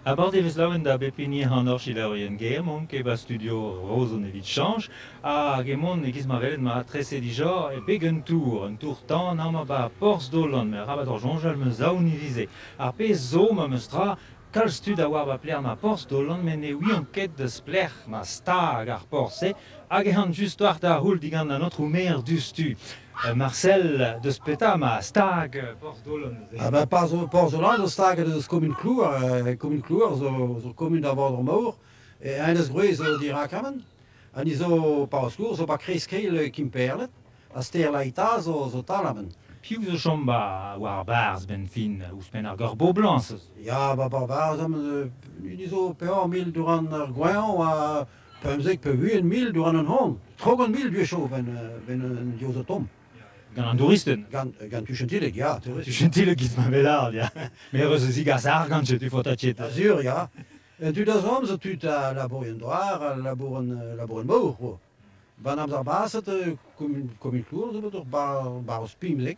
Avat e vez laouen da bep hini an orchidaerien ger mont ket 'ba studio Roazhon evit chañch hag emont e-giz ma welet matreset dija e beg un tour un tour-tan amañ 'ba porzh Dolan arabat hor soñjal 'm eus aon ivizh ar pezh zo ma meustra kalz tud a oar 'ba lec'h ma porzh Dolan met ne ouiont ket splec'h ma stag ar porzh-se hag ec'h an just war da c'houl digant an aotrou maer diouzhtu. Marsel, deus petra 'ma stag Porzh-Dolan neuze? Ha ben Porzh-Dolan zo staget eus komun Klouar. Komun Klouar zo komun da Vaodr-Mor. E enez-gwrez eo dirak amen. Ha ni zo pa skourr zo ba kreiz-keil Kimperled. Ha stêr Laita zo tal amen. Piv zo chom war barzh benn fin ouzhpenn ar Gorboblañs? Ya, ba barzh amen. Ni zo pevar mil durant ar goañv ha pemzek, pemzek mil diwar an hañv, tregont mil gwechall ben an diouz o tomm. Gant an douristed? Gant, gant tu Chantilleg, ya. Chantilleg giz ma velard, ya. Mer eus a zigas argant, tu fotatiet. Azur, ya. Tud a zom zo tud a labourien doar, a labourien mor, quoi. Ban amzer baset, komin komin klour zo bet ur bar bar ouz pimzek.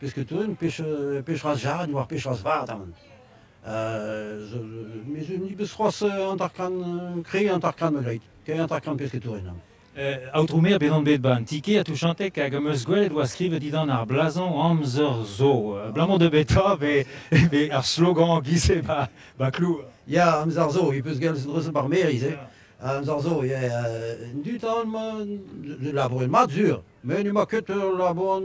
Pesketourien, pechraz jared war pechraz vat aman. Mez ni beus c'hoaz hanter-kant, krei hanter-kant malgreit, krei hanter-kant pesketourien aman. Aotrou Maer, bet on bet ba an ti-kêr a Touchantek hag am eus gwelet oa skrivet didan ar blazañ amzer zo. Abalamour da betra be ar slogan giz-se ba ba Klour? Ya, amzer zo, i peus gellet dreuzet bar Meriz, eh. Amzer zo, ya, en dud aon ma, labouret mat sur. met n'emañ ket ur labourant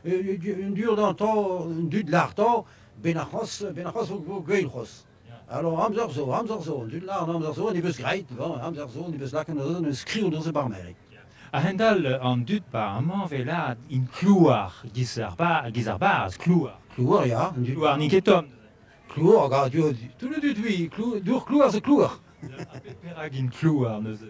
un durdantau un dud lartau benac'hos benac'hos o gwein c'hos alors amzer zo amzer zo an dud lard amzer zo ne beus graet amzer zo ne beus lakaet neuze ne skriv neuze bar merik A-hend-all an dud ba amañ velaat int klouar giz ar ba giz ar baz klouar klouar ya klouar n'int ket tomm klouar gaz tout le dud oui dour klouar c'est klouar perak int klouar neuze